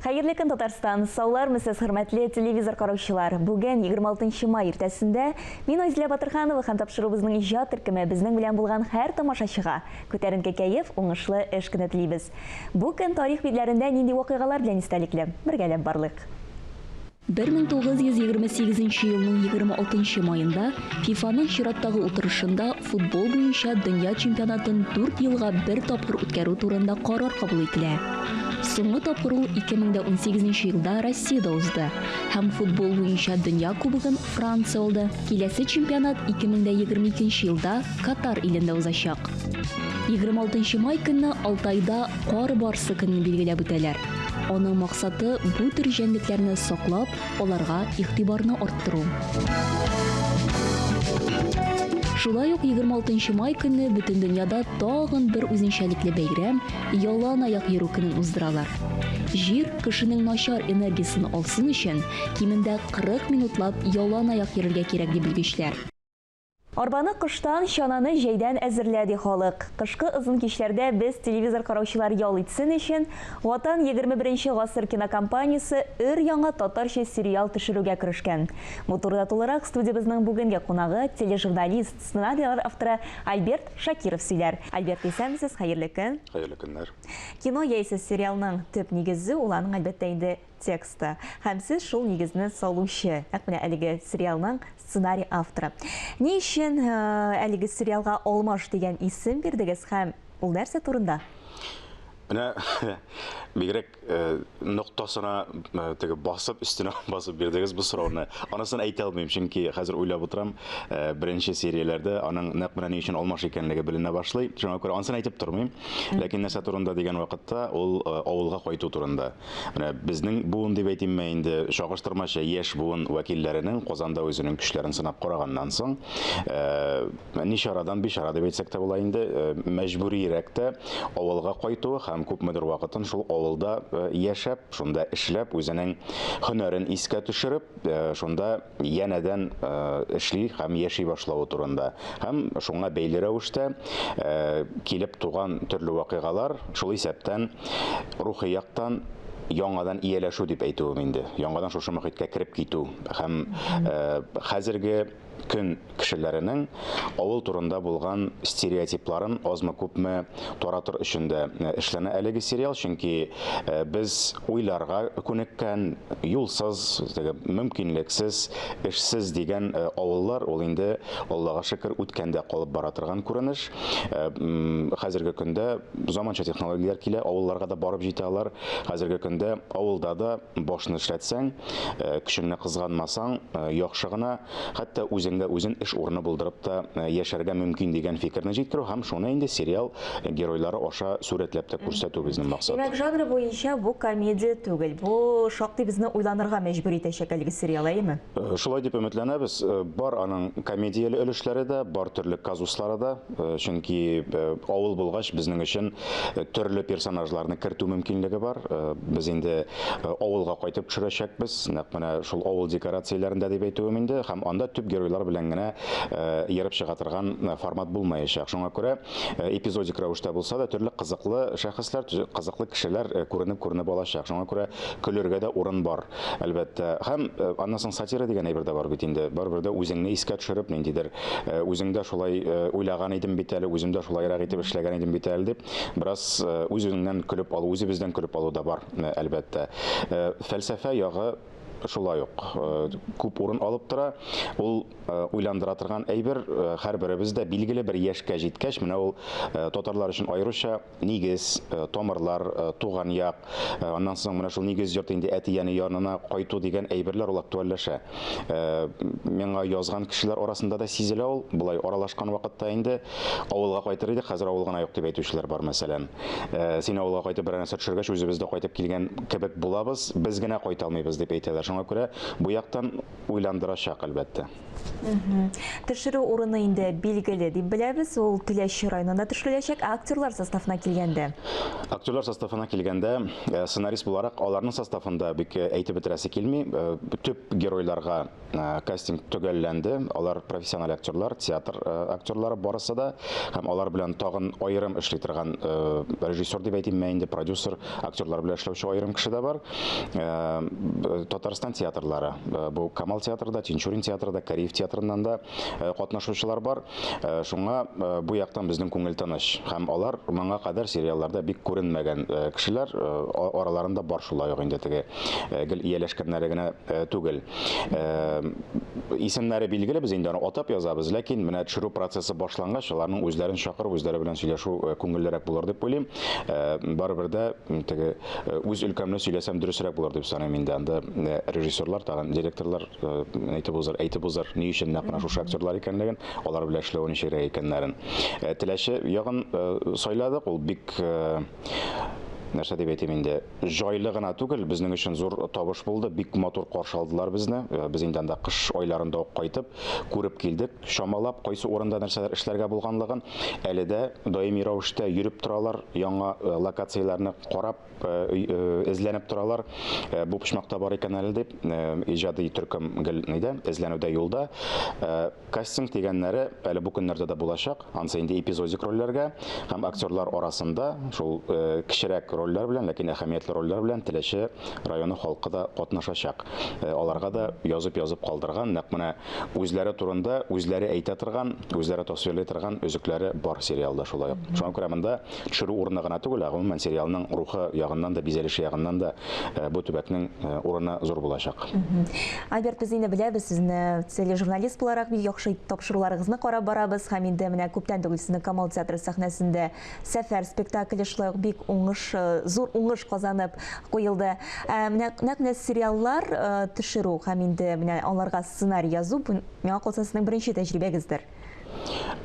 Хәерле көн, Татарстан! Саулармы сез, хөрмәтле телевизор караучылар! Бүген 26 май иртәсендә мин Айзилә Батырханова һәм тапшыруыбызның иҗат төркеме безнең белән булган һәр тамашачыга күтәренке кәеф, уңышлы эш көне телибез. Бу көн тарих битләрендә нинди вакыйгалар белән истәлекле? Бергәләп барлыйк. 1928 нче елның 26 нчы маенда ФИФАның чираттагы утырышында футбол буенча дөнья чемпионатын 4 елга бер тапкыр үткәрү турында карар кабул ителә. Соңгы тапкыр ул 2018 нчы елда Россиядә узды һәм футбол буенча дөнья кубогын Франция алды. Киләсе чемпионат 2022 елда Катар илендә узачак. 26 май көнне Алтайда Кар барсы көнен билгеләп үтәләр. Аның максаты бу төр җәнлекләрне саклап, аларга игътибарны арттыру. Шулай ук 26 май көнне бөтен дөньяда тагын бер үзенчәлекле бәйрәм ялан аяк йөрү көнен уздыралар. Җир кешенең начар энергиясен алсын өчен, кимендә 40 минутлап ялан аяк йөрергә кирәк ди белгечләр. Арбаны кыштан, чананы җәйдән әзерлә, ди халык. Кышкы озын кичләрдә без, телевизор караучылар ял итсен өчен, Ватан, егерме беренче гасыр кинокомпаниясе өр-яңа татарча сериал төшерүгә керешкән. Бу турыда тулырак студиябезнең бүгенге кунагы, тележурналист, сценарийлар авторы Альберт Шакиров сөйләр. Альберт, исәнмесез, хәерле көн! Хәерле көннәр! Кино яисә сериалның төп нигезе, ул аның, әлбәттә инде, тексты һәм сез шул нигезне салучы, нәкъ менә әлеге сериалның сценарий авторы. Ни өчен әлеге сериалга Алмаш дигән исем бирдегез һәм ул нәрсә турында? Менә бигрәк э, ноктасына э, теге басып, өстенә басып бирдегез бу сорауны. Анысын әйтә алмыйм, чөнки хәзер уйлап утырам, э, беренче серияләрдә аның нәкъ менә ни өчен алмаш икәнлеге беленә башлый. Шуңа күрә анысын әйтеп тормыйм. Ләкин нәрсә турында дигән вакытта, ул авылга кайту турында. Менә безнең буын дип әйтимме инде, чагыштырмача яшь буын вәкилләренең Казанда үзенең көчләрен сынап караганнан соң, э, ни чарадан бичара дип әйтсәк тә була инде, э, мәҗбүрирәк тә авылга кайтуы һәм күпмедер вакытын шул авылда э, яшәп, шунда эшләп, үзенең һөнәрен искә төшереп, э, шунда янәдән э, эшли һәм яши башлавы турында һәм шуңа бәйле рәвештә э, килеп туган төрле вакыйгалар шул исәптән рухи яктан яңадан ияләшү дип әйтүем инде яңадан шушы мөхиткә кереп китү һәм э, хәзерге көн кешеләренең авыл турында булган стереотипларын азмы-күпме таратыр өчен дә эшләнә әлеге сериал, чөнки без уйларга күнеккән, юлсыз, теге мөмкинлексез, эшсез дигән авыллар ул инде, Аллага шөкер, үткәндә калып бара торган күренеш. Хәзерге көндә заманча технологияләр килә, авылларга да барып җитә алар. Хәзерге көндә авылда да Башны эшләтсәң, көчеңне кызганмасаң, яхшы гына, хәтта үзеңдә үзен эш урыны булдырып та яшәргә мөмкин дигән фикерне җиткерү һәм шуны инде сериал геройлары аша сурәтләп тә күрсәтү безнең максат. Димәк, жанры буенча бу комедия түгел. Бу шактый безне уйланырга мәҗбүр итәчәк әлеге сериал, әйеме? Шулай дип өметләнәбез. Бар аның комедияле өлешләре дә, бар төрле казуслары да. Э, чөнки э, авыл булгач безнең өчен э, төрле персонажларны кертү мөмкинлеге бар без инде авылга кайтып төшерәчәкбез нәкъ менә шул авыл декорацияләрендә дип әйтүем инде һәм анда төп геройлар белән генә ерып чыга торган формат булмаячак шуңа күрә эпизодик рәвештә булса да төрле кызыклы шәхесләр кызыклы кешеләр күренеп күренеп алачак шуңа күрә көлергә дә урын бар әлбәттә һәм аннан соң сатира дигән әйбер дә бар бит инде барыбер дә үзеңне искә төшереп ниндидер Үзең дә шулай уйлаган идем бит әле, үзем дә шулайрак итеп эшләгән идем бит әле дип, бераз үз-үзеңнән көлеп алу, үзебездән көлеп алу да бар, әлбәттә. Фәлсәфә ягы шулай ук күп урын алып тора. Ул уйландыра торган әйбер, һәрберебез дә билгеле бер яшькә җиткәч, менә ул татарлар өчен аеруча Нигез, тамырлар, туган як, аннан соң менә шул нигез йорты инде әти-әни янына кайту дигән әйберләр ул актуальләшә. Миңа язган кешеләр арасында да сизелә ул, болай аралашкан вакытта инде. Авылга кайтыр идек, хәзер авыл гына юк дип әйтүчеләр бар, мәсәлән. Син авылга кайтып берәр нәрсә төшергәч, үзебез дә кайтып килгән кебек булабыз, без генә кайта алмыйбыз, дип әйтәләр. Шуңа күрә бу яктан уйландырачак, әлбәттә. Төшерү урыны инде билгеле дип беләбез, ул Теләче районында төшереләчәк. Ә актерлар составына килгәндә? Актерлар составына килгәндә, э, сценарист буларак аларның составында бик э, әйтеп бетерәсе килми. Э, төп геройларга кастинг төгәлләнде. Алар профессиональ актерлар, театр актерлары барысы да һәм алар белән тагын аерым эшли торган режиссер дип әйтимме инде, продюсер, актерлар белән эшләүче аерым кеше дә бар. э, Татарстан театрлары. Э, бу Камал театры да, Тинчурин театры да, Кариев театрыннан да э, катнашучылар бар. Шуңа бу яктан безнең күңел тыныч. Һәм алар моңа кадәр сериалларда бик күренмәгән кешеләр араларында бар шулай ук инде теге гел ияләшкәннәре генә түгел. Исемнәре билгеле, без инде аны атап язабыз, ләкин менә төшерү процессы башлангач, аларның үзләрен чакырып, үзләре белән сөйләшү күңеллерәк булыр дип уйлыйм. Барыбер дә теге Э, үз өлкәмне сөйләсәм дөресрәк булыр дип саныйм инде анда э, режиссерлар тагын директорлар э, әйтеп узар әйтеп узар ни өчен нәкъ менә шушы актерлар икәнлеген алар белән эшләү ничегрәк икәннәрен теләче ягын сайладык ул бик нәрсә дип әйтим инде җайлы гына түгел безнең өчен зур табыш булды бик матур каршы алдылар безне без инде анда кыш айларында ук кайтып күреп килдек чамалап, кайсы урында нәрсәләр эшләргә булганлыгын, әле дә даими рәвештә йөреп торалар, яңа э, локацияләрне карап, э, э, эзләнеп торалар. Бу почмакта бар икән әле дип, иҗади төркем гел нидә, эзләнүдә юлда. Кастинг дигәннәре әле бу көннәрдә дә булачак, ансы инде эпизодик рольләргә һәм актерлар арасында шул кечерәк рольләр белән, ләкин әһәмиятле рольләр белән Теләче районы халкы да катнашачак. Аларга да язып-язып калдырган, нәкъ менә үзләре турында үзләре әйтә торган, үзләре тасвирлый торган өзекләре бар сериалда шулай ук. Шуңа күрә монда төшерү урыны гына түгел, ә гомумән сериалның рухы ягыннан да, бизәлеше ягыннан да э, бу төбәкнең э, урыны зур булачак. Альберт, без инде беләбез сезне тележурналист буларак бик яхшы тапшыруларыгызны карап барабыз һәм инде менә күптән түгел сезне Камал театры сәхнәсендә Сәфәр спектакле шулай ук бик уңыш, э, зур уңыш казанып куелды. Ә, менә нәкъ менә сериаллар э, төшерү һәм инде менә аларга сценарий язу бу миңа калса сезнең беренче тәҗрибәгездер.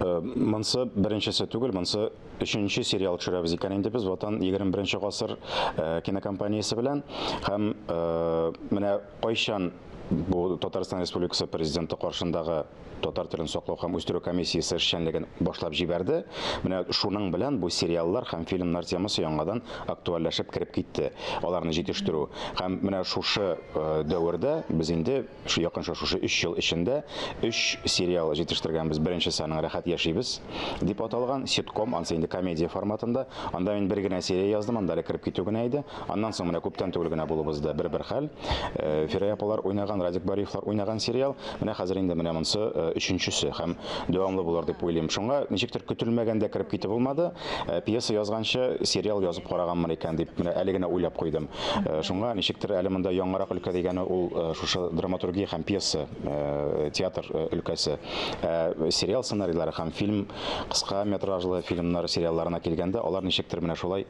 Э, монсы беренчесе түгел, монсы өченче сериал төшерәбез икән инде без Ватан 21 гасыр э, кинокомпаниясе белән һәм э, менә кайчан бу Татарстан Республикасы президенты каршындагы татар телен саклау һәм үстерү комиссиясе эшчәнлеген башлап җибәрде. Менә шуның белән бу сериаллар һәм фильмнар темасы яңадан актуальләшеп кереп китте. Аларны җитештерү һәм менә шушы э, дәвердә без инде шу якынча шушы 3 ел эчендә 3 сериал җитештергәнбез. Беренчесе аның Рәхәт яшибез дип аталган ситком, ансы инде комедия форматында. Анда мин бер генә серия яздым, анда әле кереп китү генә иде. Аннан соң менә күптән түгел генә булып узды бер-бер хәл. Э, Фирәя апалар уйнаган, Радик Бариевлар уйнаган сериал. Менә хәзер инде менә монсы э, өченчесе һәм дәвамлы булыр дип уйлыйм. Шуңа ничектер көтелмәгәндә кереп китеп булмады. Э, пьеса язганчы сериал язып караганмын икән дип менә әле генә уйлап куйдым. Шуңа ничектер әле монда яңарак өлкә дигәне ул шушы драматургия һәм пьеса, театр өлкәсе. Сериал сценарийлары һәм фильм кыска метражлы фильмнар сериалларына килгәндә, алар ничектер менә шулай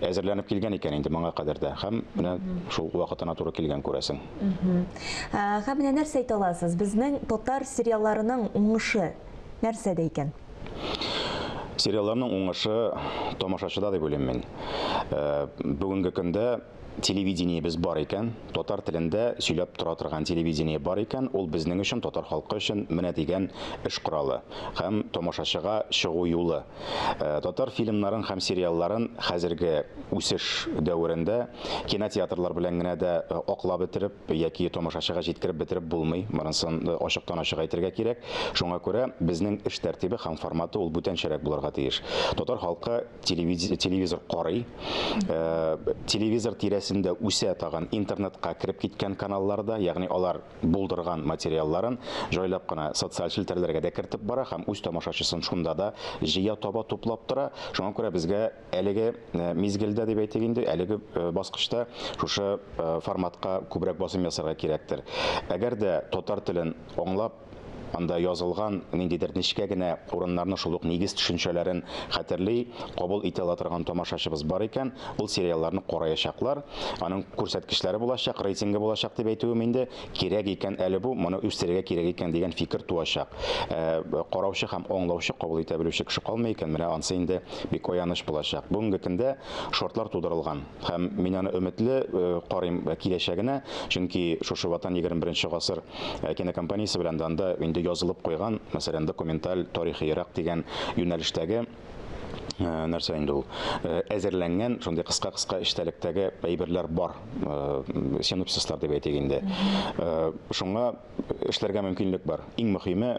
әзерләнеп килгән икән инде моңа кадәр дә һәм менә шул вакытына туры килгән күрәсең. Һәм менә нәрсә әйтә аласыз? Безнең татар сериалларының уңышы нәрсәдә икән? Сериалларның уңышы тамашачыда дип уйлыйм мин. Бүгенге көндә телевидениебез бар икән, татар телендә сөйләп тора торган телевидение бар икән, ул безнең өчен, татар халкы өчен менә дигән эш коралы һәм тамашачыга чыгу юлы. Татар фильмнарын һәм сериалларын хәзерге үсеш дәверендә кинотеатрлар белән генә дә аклап бетереп яки тамашачыга җиткереп бетереп булмый, монысын ачыктан-ачык әйтергә кирәк. Шуңа күрә безнең эш тәртибе һәм форматы ул бүтәнчәрәк булырга тиеш. Татар халкы. телевизор карый э, телевизор тирәсендә үсә тагын интернетка кереп киткән каналларда ягъни алар булдырган материалларын җайлап кына социаль челтәрләргә дә кертеп бара һәм үз тамашачысын шунда да җыя таба туплап тора шуңа күрә безгә әлеге э, мизгелдә дип әйтик инде әлеге э, баскычта шушы форматка күбрәк басым ясарга кирәктер әгәр дә татар телен аңлап Анда язылган ниндидер нечкә генә урыннарны, шул ук нигез төшенчәләрен хәтерли, кабул итә ала торган тамашачыбыз бар икән, ул сериалларны караячаклар. Аның күрсәткечләре булачак, рейтингы булачак дип әйтүем инде. Кирәк икән әле бу, моны үстерергә кирәк икән дигән фикер туачак. Ә караучы һәм аңлаучы, кабул итә белүче кеше калмый икән, менә ансы инде бик аяныч булачак. Бүгенге көндә шартлар тудырылган. Һәм мин аны өметле карыйм киләчәгенә, чөнки шушы Ватан егерме беренче гасыр кинокомпаниясе белән дә анда инде язылып куйган, мәсәлән, документаль, тарихиерак дигән юнәлештәге, нәрсә инде ул, әзерләнгән шундый кыска-кыска эчтәлектәге әйберләр бар, синопсислар дип әйтик инде. Шуңа эшләргә мөмкинлек бар. Иң мөхиме,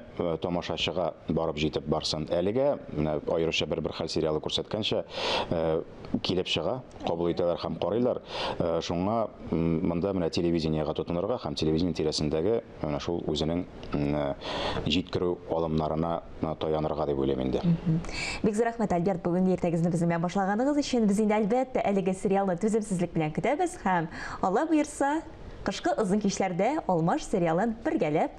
тамашачыга барып җитеп барсын. Әлегә, менә аеруча Бер-бер хәл сериалы күрсәткәнчә, килеп чыга, кабул итәләр һәм карыйлар. Э, шуңа монда менә телевидениегә тотынырга һәм телевидение тирәсендәге менә шул үзенең э, җиткерү алымнарына э, таянырга дип уйлыйм инде. Бик зур рәхмәт, Альберт, бүгенге иртәгезне безнең белән башлаганыгыз өчен. Без инде әлбәттә әлеге сериалны түземсезлек белән көтәбез һәм Алла боерса, кышкы озын кичләрдә Алмаш сериалын бергәләп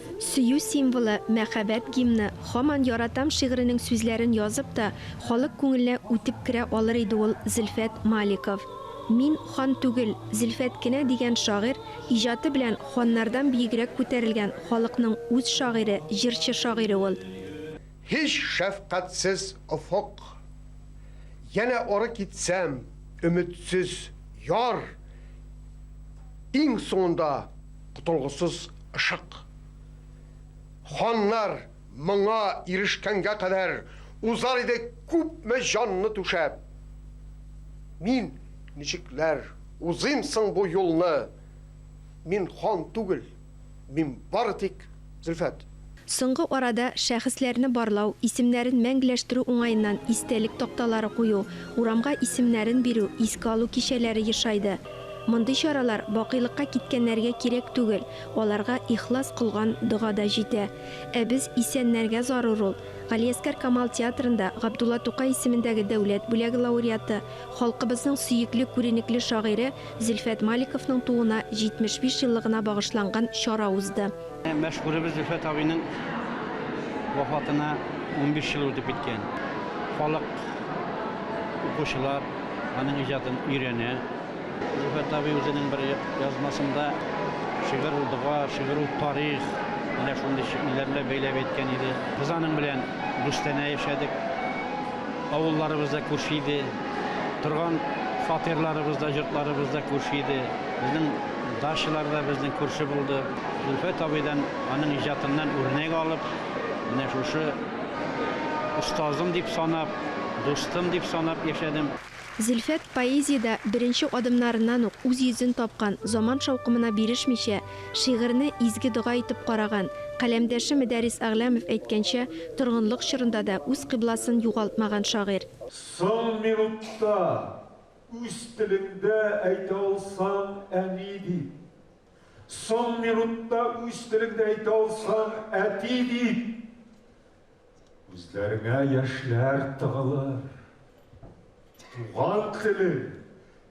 Сөю символы, мәхәббәт гимны, Һаман яратам шигыренең сүзләрен язып та, халык күңеленә үтеп керә алыр иде ул Зөлфәт Маликов. Мин, хан түгел, Зөлфәт кенә дигән шагыйрь, иҗаты белән ханнардан биегрәк күтәрелгән халыкның үз шагыйре, җырчы-шагыйре ул. Һич шәфкатьсез офык. Янә ары китсәм, өметсез яр. Иң соңында котылгысыз ышык. Ханнар моңа ирешкәнгә кадәр узар иде күпме җанны түшәп. Мин ничекләр узыйм соң бу юлны? Мин хан түгел, мин бары тик. Зөлфәт. Соңгы арада шәхесләрне барлау, исемнәрен мәңгеләштерү уңаеннан истәлек такталары кую, урамга исемнәрен бирү, искә алу кичәләре ешайды. Мондый чаралар бакыйлыкка киткәннәргә кирәк түгел, аларга ихлас кылган дога да җитә. Ә без исәннәргә зарур ул. Галиәскәр Камал театрында Габдулла Тукай исемендәге дәүләт бүләге лауреаты, халкыбызның сөекле күренекле шагыйре Зөлфәт Маликовның тууына 75 еллыгына багышланган чара узды. Мәшһүребез Зөлфәт абыйның вафатына унбиш ел үтеп киткән. Халык, укучылар аның иҗатын өйрәнә. Зөлфәт абый үзенең бер язмасында Шигырь ул дога, шигырь ул тарих, менә шундый шигыльләр белән бәйләп әйткән иде. Без аның белән Бүстәнә яшәдек. Авылларыбыз да күрше иде. торган фатирларыбыз да, йортларыбыз да күрше иде. Безнең дачалар да безнең күрше булды. Зөлфәт абыйдан, аның иҗатыннан үрнәк алып, менә шушы остазым дип санап, дустым дип санап яшәдем. Зөлфәт поэзиядә беренче адымнарыннан ук үз йөзен тапкан, заман шаукымына бирешмичә, шигырьне изге дога итеп караган. Каләмдәше Медәрис Әгъләмов әйткәнчә, торгынлык чорында да үз кыйбласын югалтмаган шагыйрь. Соң минутта, үз телеңдә әйтә алсаң, әни дип. Соң минутта, үз телеңдә әйтә алсаң, әти дип. Күзләреңә яшьләр тыгылыр. Туган телең,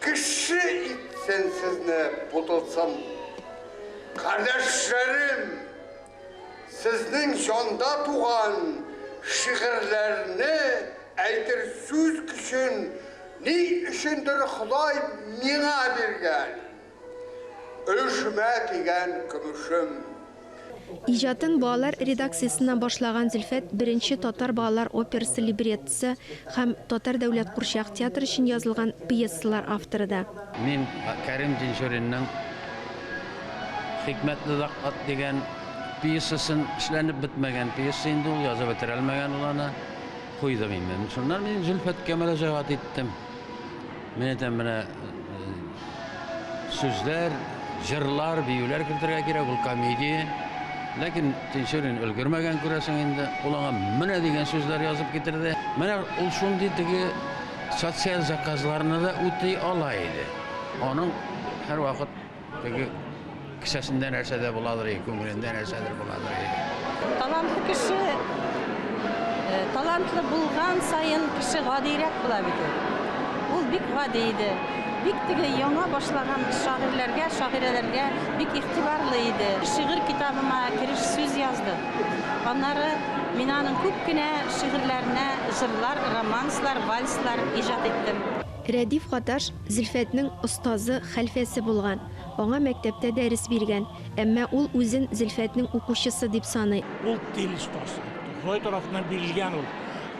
Кеше итсен сезне бутылсын. Кардәшләрем, сезнең җанда туган шигырьләрне әйтер сүз көчен ни өчендер Ходай миңа биргән. Өшмә дигән көмешем. Иҗатын балалар редакциясеннән башлаган Зөлфәт беренче татар балалар операсы либреттосы һәм Татар дәүләт курчак театры өчен язылган пьесалар авторы да. Мин Кәрим Тинчуринның Хикмәтле лакъат дигән пьесасын, эшләнеп бетмәгән пьеса инде ул, язып бетерәлмәгән ул аны, куйдым инде. Шуннан мин Зөлфәткә мөрәҗәгать иттем. Менә дә менә сүзләр, җырлар, биюләр кертергә кирәк, ул комедия. Ләкин Тинчурин өлгермәгән күрәсең инде. Ул аңа менә дигән сүзләр язып китерде. Менә ул шундый теге социаль заказларны да үти ала иде. Аның һәрвакыт Теге кесәсендә нәрсә дә буладыр, и, күңелендә нәрсәдер буладыр. и. Талантлы кеше, э, талантлы булган саен кеше гадиерәк була бит ул. Ул бик гади иде. Бик теге яңа башлаган шагыйрьләргә, шагыйрәләргә бик игътибарлы иде. Шигырь китабыма кереш сүз язды. Аннары мин аның күп кенә шигырьләренә җырлар, романслар, вальслар иҗат иттем. Рәдиф Гаташ Зөлфәтнең остазы, хәлфәсе булган, аңа мәктәптә дәрес биргән, әмма ул үзен Зөлфәтнең укучысы дип саный. Ул тел остасы, Ходай тарафыннан бирелгән ул.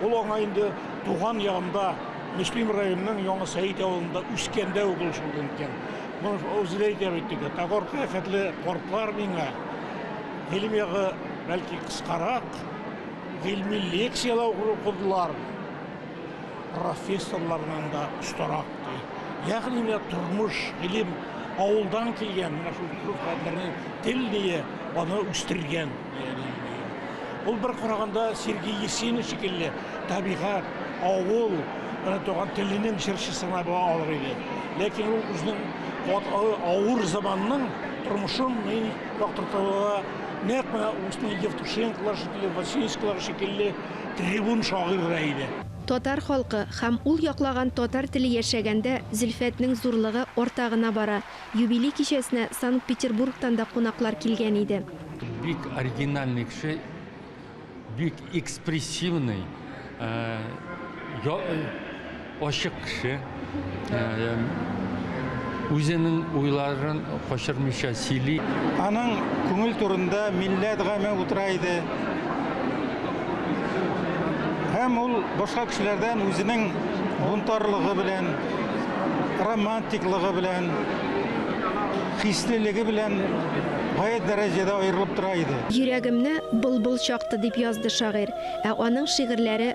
Ул аңа инде туган ягында, Мөслим районының Яңа Сәет авылында үскәндә үк ул шул әйткән. Үзе дә әйтә бит теге, Тагарка хәтле картлар миңа, гыйлем ягы, бәлки, кыскарак, гыйльми лекцияләр укыдылар. профессорларыннан да остарак ди. Ягъни менә тормыш, гыйлем, авылдан килгән менә шул күп гадләрне тел дия, аны үстергән дияли. Ул бер караганда Сергей Есенин шикелле табигать, авыл, менә туган теленең чыршысына була алыр иде. Ләкин ул үзенең ват- а- авыр заманның тормышын мин яктыртуга нәкъ менә Устин Евтушенколар шикелле, Васильевскийлар шикелле трибун шагыйрь дә иде. Татар халкы һәм ул яклаган татар теле яшәгәндә Зөлфәтнең зурлыгы арта гына бара. Юбилей кичәсенә Санкт-Петербургтан да кунаклар килгән иде. Бик оригинальный кеше, бик экспрессивный. Ачык кеше, үзенең уйларын качырмыйча сөйли. Аның күңел турында милләт гаме утыра иде. Һәм ул башка кешеләрдән үзенең бунтарлыгы белән, романтиклыгы белән, хислелеге белән гаять дәрәҗәдә аерылып тора иде. Йөрәгемне былбыл чакты, дип язды шагыйрь. Ә аның шигырьләре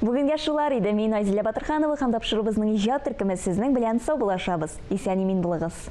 Бүгенгә шулар иде, мин Айзилә Батырханова һәм тапшыруыбызның иҗат төркеме сезнең белән саубуллашабыз. Исән-имин булыгыз!